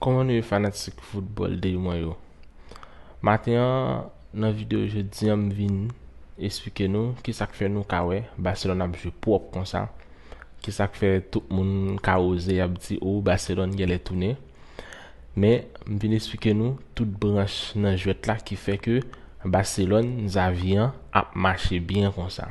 Kòman nou ye fanatik foutbòl de mwen yo Maten an nan videyo jodi an m vin esplike nou kisak fè nou ka wè Barcelone ap jwe pwòp konsa ki sak fè tout moun ka oze ap di oh Barcelone genlè tounen men m vin esplike nou tout branch nan jwèt la ki fè ke Barcelone Xavi an ap mache byen konsa.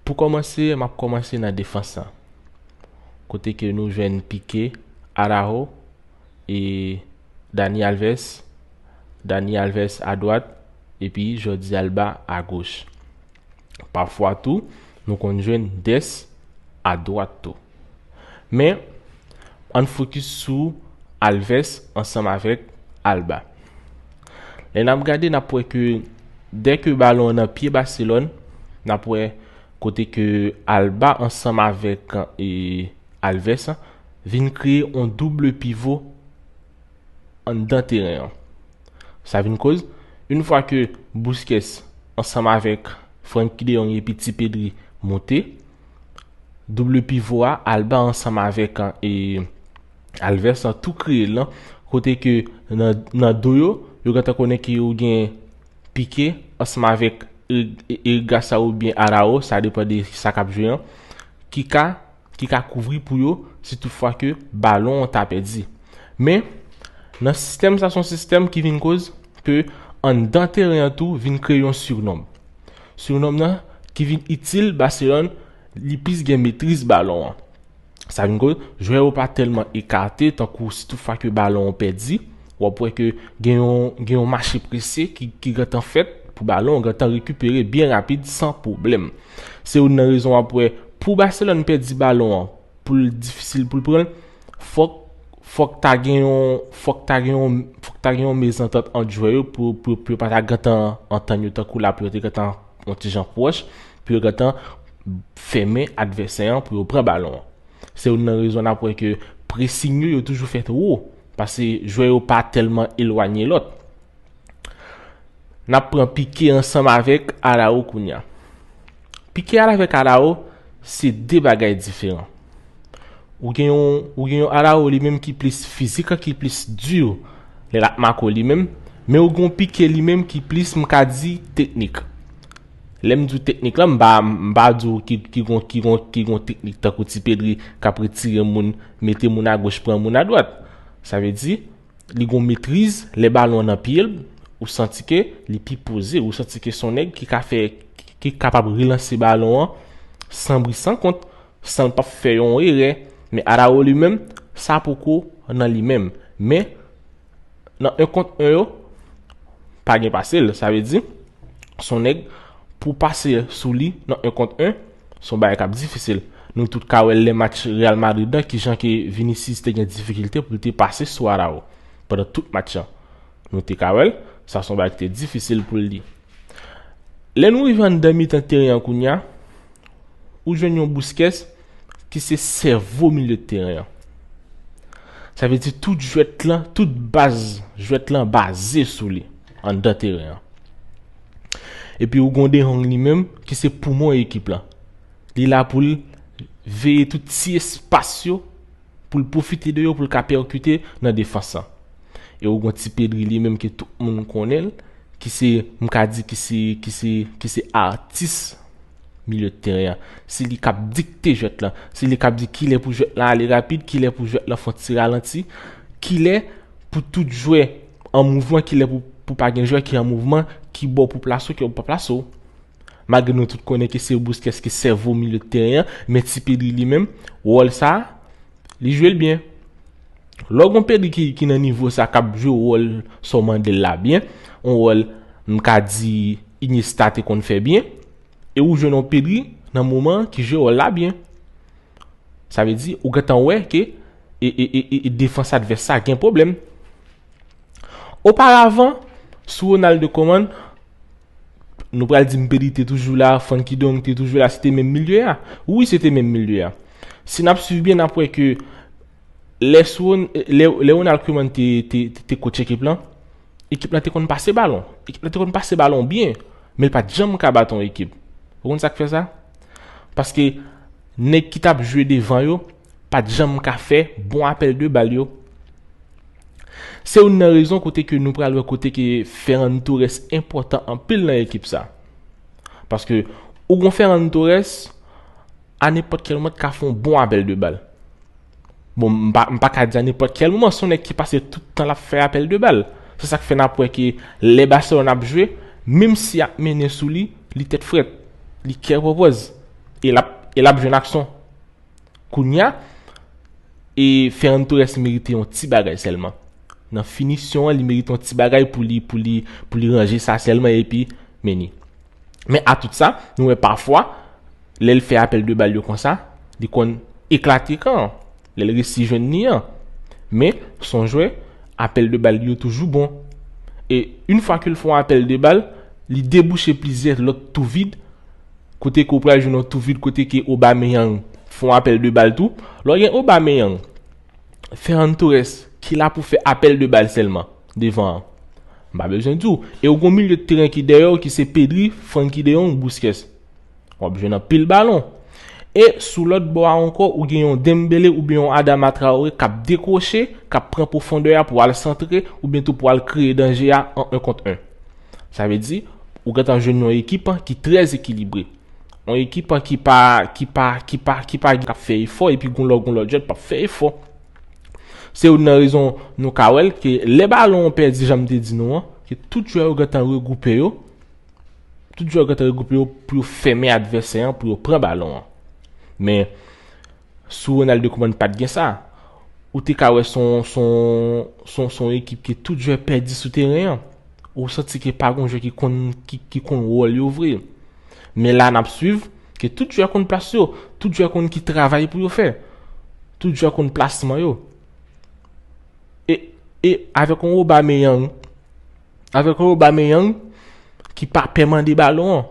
Pou kòmanse map kòmanse nan defans lan kote ke nou jwenn Pique, Araujo e Dani Alves, Dani Alves a dwat epi Jordi Alba a goch. Pafwa tou, nou konn jwenn des a dwat tou. Men, ann fokis sou Alves ansanm avèk Alba. Lè n ap gade n ap wè ke dè ke balon an nan pye Baselòn, n ap wè kote ke Alba ansanm avèk Alves vin kreye yon double pivo. anndan teren an. Sa vin koz, yn fwa ke Busquets ansanm avèk Frenkie de Jong epi ti Pedri monte, double pivo a, Alba ansanm avèk e Alves lan tou kreye lan, kote ke nan do yo, yo gentan konnen ke yo gen Pique ansanm avèk Eric Garcia oubyen Araujo, sa depan de sa kap jwe an, ki ka. ki ka kouvri pou yo si tout fwa ke balon an ta pèdi. Men, nan sistèm sa son sistèm ki vin koz ke anndan teren an tou vin kreye yon sirnonm. Sirnonm nan ki vin itil Barcelone li plis gen metriz balon an. Sa vin koz jwè yo pa tèlman ekate tankou si tout fwa ke balon an pèdi W ap wè ke gen yon gen yon mache prese ki ki gentan fèt pou balon an gentan rekipere byen rapid san pwoblèm. Se youn nan rezon w ap wè pou Barcelone pèdi balon an pou l difisil pou l pran l fòk fòk ta gen yon fòk ta gen yon fòk ta gen yon mezantant ant jwè yo pou pou pou yo pa ta gentan antann yo tankou la pou yo te gentan yon ti jan pwòch pou yo gentan fèmen advèsè an pou yo pran balon an. Se youn nan rezon n ap wè ke pressing yo yo toujou fèt wo. Pase jwè yo pa tèlman elwanye lòt. N ap pran Pike ansanm avèk Arao kounya. Pike avèk Arao se 2 bagay diferan. Ou gen yon ou gen yon Arao li menm ki plis fizik an ki plis dur lè l ap mako li menm, men ou gen yon Pike li menm ki plis m ka di teknik. Lè m di w teknik lan, m pa m pa di w ki ki gon ki gon ki gon teknik tankou ti Pedri k ap retire moun, mete moun agoch, pran moun adwat. Sa vle di, li gon metriz, lè balon an nan pye l, ou santi ke li pi poze, ou santi ke s on nèg ki ka fè ki kapab relanse balon an san bri san kont, san l p ap fè yon erè. Men Araújo li menm, sa poko nan li menm. Men. nan 1 kont 1 yo pa gen pase l sa vle di son nèg pou pase sou li nan 1 kont 1 son bagay kap difisil nou tout ka wè lè match Real Madrid nan ki jan ke Vinicius te gen difikilte pou l te pase sou Arao pandan tout match an nou te ka wè l sa son bagay ki te difisil pou l li. Lè nou rive anndan mitan teren an kounye a, ou jwenn yon Busquets ki se sèvo milye de teren an. Sa vle di tout jwèt lan, tout baz jwèt lan baze sou li anndan teren an. Epi ou gon De Jong li menm ki se poumon ekip lan. Li la pou l veye tout ti espas yo pou l pwofite de yo pou l ka pèkite nan defans lan. E ou gon ti Pedri li menm ke tout moun konnen l, ki se, m ka di ki se, ki se, ki se atis milye de teren an. Se li k ap dikte jwèt lan. Se li k ap di kilè pou jwèt lan ale rapid, kilè pou jwèt lan fè yon ti ralanti, kilè pou tout jwè an mouvman, kilè pou pa gen jwè ki an mouvman, ki bò pou plase w, ki bò pou pa plase w. Malgre nou tout konnen ke se Busquets ki sèvo milye teren an, men ti Pedri li menm, wòl sa, li jwe l byen. Lè w gen yon Pedri ki nan nivo sa, k ap jwe wòl sa w mande l la byen, yon wòl m ka di Iniesta te konn fè byen, e ou jwenn yon Pedri nan moman an ki jwe wòl la byen. Sa vle di, ou gentan wè ke defans advès sa gen pwoblèm. Oparavan, sou Ronald Koeman, Nou pral di m Pedi te toujou la, Funky Dong te toujou la, se te menm milye a. Wi se te menm milye a. Si n ap suiv byen n ap wè ke lè Sron, lè Ronald Koeman te te coach ekip lan, ekip lan te konn pase balon. Ekip lan te konn pase balon byen, men l pa t janm ka bat yon ekip. Ou konn sa k fè sa? Paske nèg ki t ap jwe devan yo, pat janm ka fè bon apèl de bal yo. Se youn nan rezon kote ke nou pral wè kote ke Ferran Torres enpòtan anpil nan ekip sa. Paske ou gon Ferran Torres, a nenpòt kèl moman t ka fè yon bon apèl de bal. Bon m pa m pa ka di a nenpòt kèl moman, son nèg ki pase tout tan lap fè apèl de bal. Se sak fè nap wè ke lè Barcelone ap jwe, menm si yap mennen sou li, li tèt frèt, li kè pòpòz e lap e lap jwenn aksyon. Kounya e Ferran Torres merite yon ti bagay sèlman. Nan finisyon an li merite yon ti bagay pou li pou li pou li ranje sa sèlman epi meni. Men a tout sa, nou wè pafwa lè l fè apèl de bal yo konsa, li konn eklate kan an. Lè l resi jwenn ni an. Men son jwè apèl de bal li yo toujou bon. E une fwa ke l fon apèl de bal, li debouche plizyè lòt tou vid Kote ke ou pral jwenn yon tou vid kote ke Aubameyang fè yon apèl de bal tou. Lè w gen Aubameyang, Ferran Torres ki la pou fè apèl de bal sèlman devan an. M pa bezwen di w. E ou gen yon milye de teren ki dèyè w ki se Pedri, Frenkie de Jong, Busquets. W ap jwenn anpil balon. E sou lòt bò a ankò ou gen yon Dembele oubyen yon Adama Traore k ap dekwoche, k ap pran pwofondè a pou al santre oubyen tou pou al kreye danje a an 1 kont 1. Sa vle di, ou gentan jwenn yon ekip ki trè ekilibre. Yon ekip ki pa, ki pa, ki pa, ki pa gen kap fè efò epi goun lò goun lòt jwèt pap fè efò. Se youn nan rezon nou ka wèl ke lè balon an pèdi jan m te di nou an, ke tout jwè yo gentan regwoupe yo, tout jwè yo gentan regwoupe yo pou yo fèmen advèsè an pou yo pran balon an. Men, Sou Ronaldo kouman pat gen sa? Ou te ka wè son son son ekip ke tout jwè pèdi sou teren an. Ou santi ke pa gon jwè ki konn ki konn wòl yo vre. Men la nap swiv ke tout jwè konn plas yo, tout jwè konn ki travay pou yo fè. Tout jwè konn plasman yo. E e avèk yon Aubameyang avèk yon Aubameyang ki pa pè mande balon an.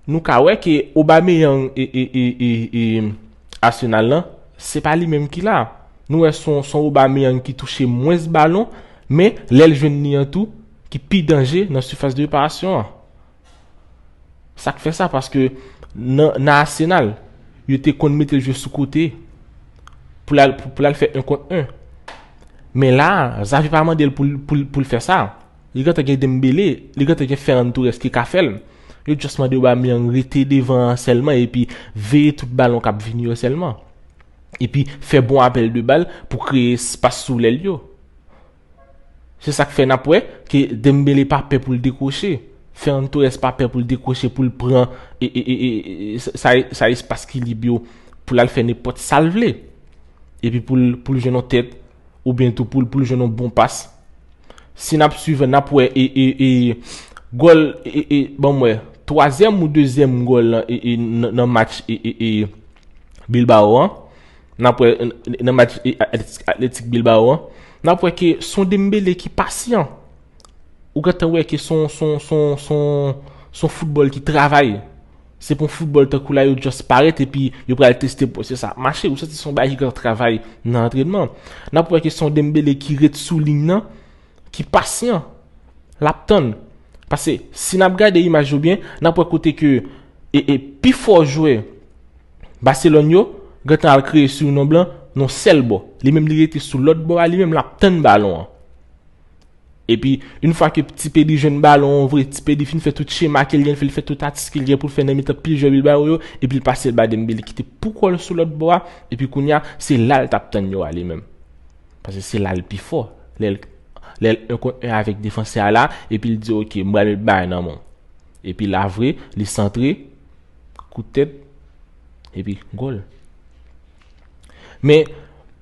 Nou ka wè ke Aubameyang e Arsenal lan, se pa li menm ki la. Nou wè son Aubameyang ki touche mwens balon, men lè l jwenn li an tou, ki pi danje nan sifas de reparasyon an. Sa k fè sa? Paske nan Arsenal, yo te konn mete l jwe sou kote, pou l al fè 1 kont 1. Men la, Xavi pa mande l pou l fè sa. Li gentan gen Dembele, li gentan gen Ferran Torres ki ka fèl. Yo just mande Aubameyang rete devan an sèlman epi veye tout balon kap vini yo sèlman. Epi fè bon apèl de bal pou kreye espas sou lèl yo. Se sak fè nap wè ke Dembele pa pè pou l dekwoche. Ferran Torres pa pè pou l dekwoche pou l pran e, e, e, sa, sa espas ki lib yo pou l al fè nenpòt sal vle. Epi pou l, pou l jwenn yon tèt oubyen tou pou l, pou l jwenn yon bon pas. Si nap swiv nap wè e gòl e banm wè twazyèm ou dezyèm gòl nan match e Bilbao an nap wè nan match Atletik Bilbao an nap wè ke son Dembele ki pasyan ou gentan wè ke son son son son son foutbòl ki travay. Se pou football tankou la yo just parèt epi yo pral teste pou se sa ap mache ou santi son bagay ki gen travay nan antrenman. Nap wè ke son Dembele ki ret sou liy nan, ki pasyan. Lap tann. Pase si nap gade imaj yo byen, nap wè kote ke e e pi fò jwè Barcelone yo gentan al kreye sou non blan non sèl bò. Li menm li rete sou lòt bò a li menm lap tann balon an. Epi, yn fwa ke Ti Pedi jwenn balon an vre, Ti Pedi fin fè tout chema ke l gen fè, li fè tout atis ke l gen pou l fè nan mitan pil jwè Bilbao yo, epi l pase l ba Dembele ki te pou kò l sou lòt bò a, epi kounye a, se la l t ap tann yo ale menm. Paske se la l pi fò, lè l lè l 1 kont 1 avèk defansè a la, epi l di ok, m pral met bal nan men w. Epi la vre, li santre, kout tèt, epi gòl. Men,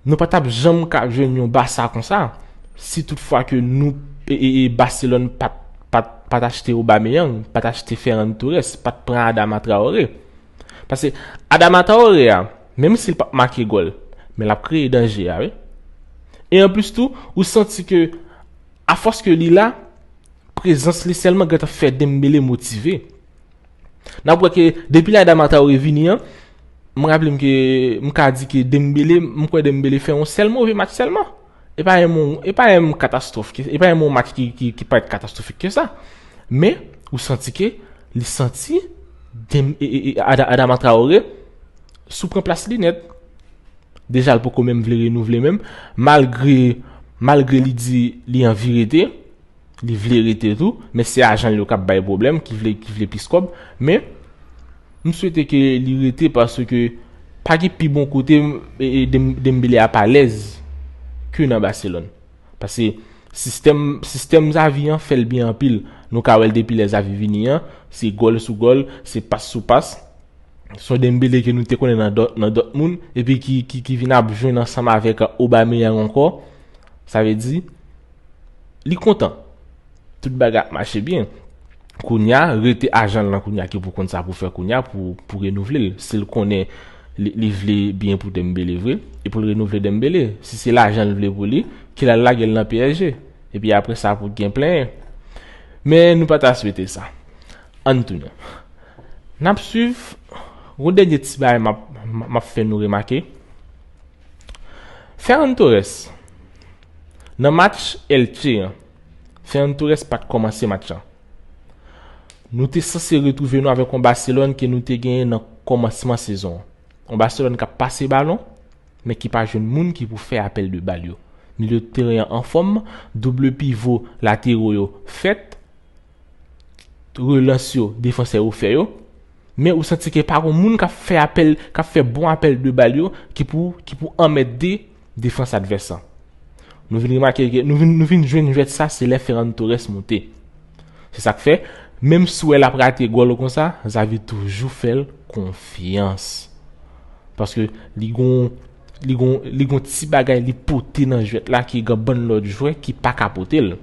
nou pa t ap janm ka jwenn yon Basa konsa, si tout fwa ke nou, Barcelone pa t achte Aubameyang, pa t achte Ferran Torres, pa t pran Adama Traore. Pase, Adama Traore a, menm si l pa p make gòl, men l ap kreye danje a wi. E anplis tou, ou santi ke, afòs ke li la, prezans li sèlman gentan fè Dembele motive. Nap wè ke depi lè Adama Traoré vini an, m raple m ke m ka di ke Dembele, m kwè Dembele fè yon sèl move match sèlman. E pa yon moun, e pa yon moun katastwòf, e pa yon moun match ki parèt katastwofik ke sa. Men, ou santi ke, li santi, Adama Traoré, sou pran plas li nèt. Deja l poko menm vle renouvle menm, malgre, malgre li di li anvi rete. Li vle rete tou, men se ajan l yo kap bay pwoblèm ki vle ki vle plis kòb, men m swete ke li rete paske pa gen pi bon kote Dembele ap alèz ke nan Barcelone. Pase sistèm sistèm Xavi an fèl byen anpil, nou ka wèl depi lè Xavi vini an, se gòl sou gòl, se pas sou pas, son Dembele ke nou te konnen nan dòt nan Dortmund epi ki ki vin ap jwenn ansanm avèk Aubameyang ankò, sa vle di. Li kontan. Tout bagay ap mache byen. Kounya, rete ajan l lan kounya ki pou konn sa pou fè kounya pou renouvle l. Si l konnen li vle byen pou Dembele vre, e pou l renouvle Dembele. Si se lajan l vle pou li, ki l al lage l nan psg. E pi apre sa pou gen plenyen. Men nou pa ta swete sa. An n tounen. N ap swiv. Yon dènye ti bagay m ap fè nou remake. Ferran Torres. Nan match Elche an, Ferran Torres pat kòmanse match lan. Nou te sanse retwouve nou avèk yon Barcelone ke nou te genyen nan kòmansman sezon an. Yon Barcelone kap pase balon, men ki pa jwenn moun ki pou fè apèl de bal yo. Milyo teren an anfòm, double pivo latero yo fèt, relans yo defansè yo fè yo, men ou santi ke pa gon moun k ap fè apèl, k ap fè bon apèl de bal yo ki pou ki pou anmède defans advès lan. Nou vin remake ke nou vin nou vin jwenn jwèt sa se lè Ferran Torres moute. Se sa k fè, menm si w wè l ap rate gòl konsa, Xavi toujou fè l konfyans. Paske li gon Li gon li gon ti bagay li pote nan jwèt la ki gan bann lòt jwè ki pa ka pote l.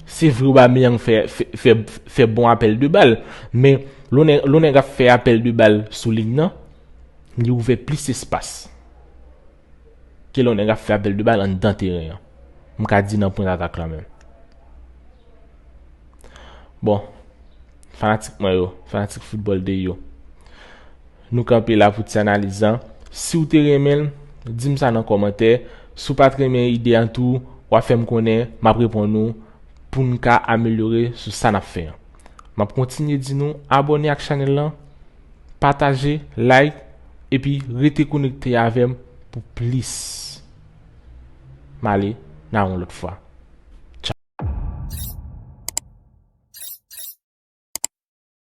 Se vre Aubameyang fè fè fè bon apèl de bal, men lonè lonè gap fè apèl de bal sou liy nan, li ouvè plis espas. Ke lonè gap fè apèl de bal anndan teren an. M ka di nan pwen atak la menm. Bon, fanatik mwen yo, fanatik football de yo. Nou kanpe la pou ti analiz lan. Siw te renmen l, dim sa nan kòmantè, si w pat renmen ide an tou, wap fè m konnen, map reponn ou pou n ka amelyore sou sa nap fè an. Map kontinye di nou abòne ak chanèl lan, pataje, like epi rete konekte avè m pou plis. Male nan yon lòt fwa.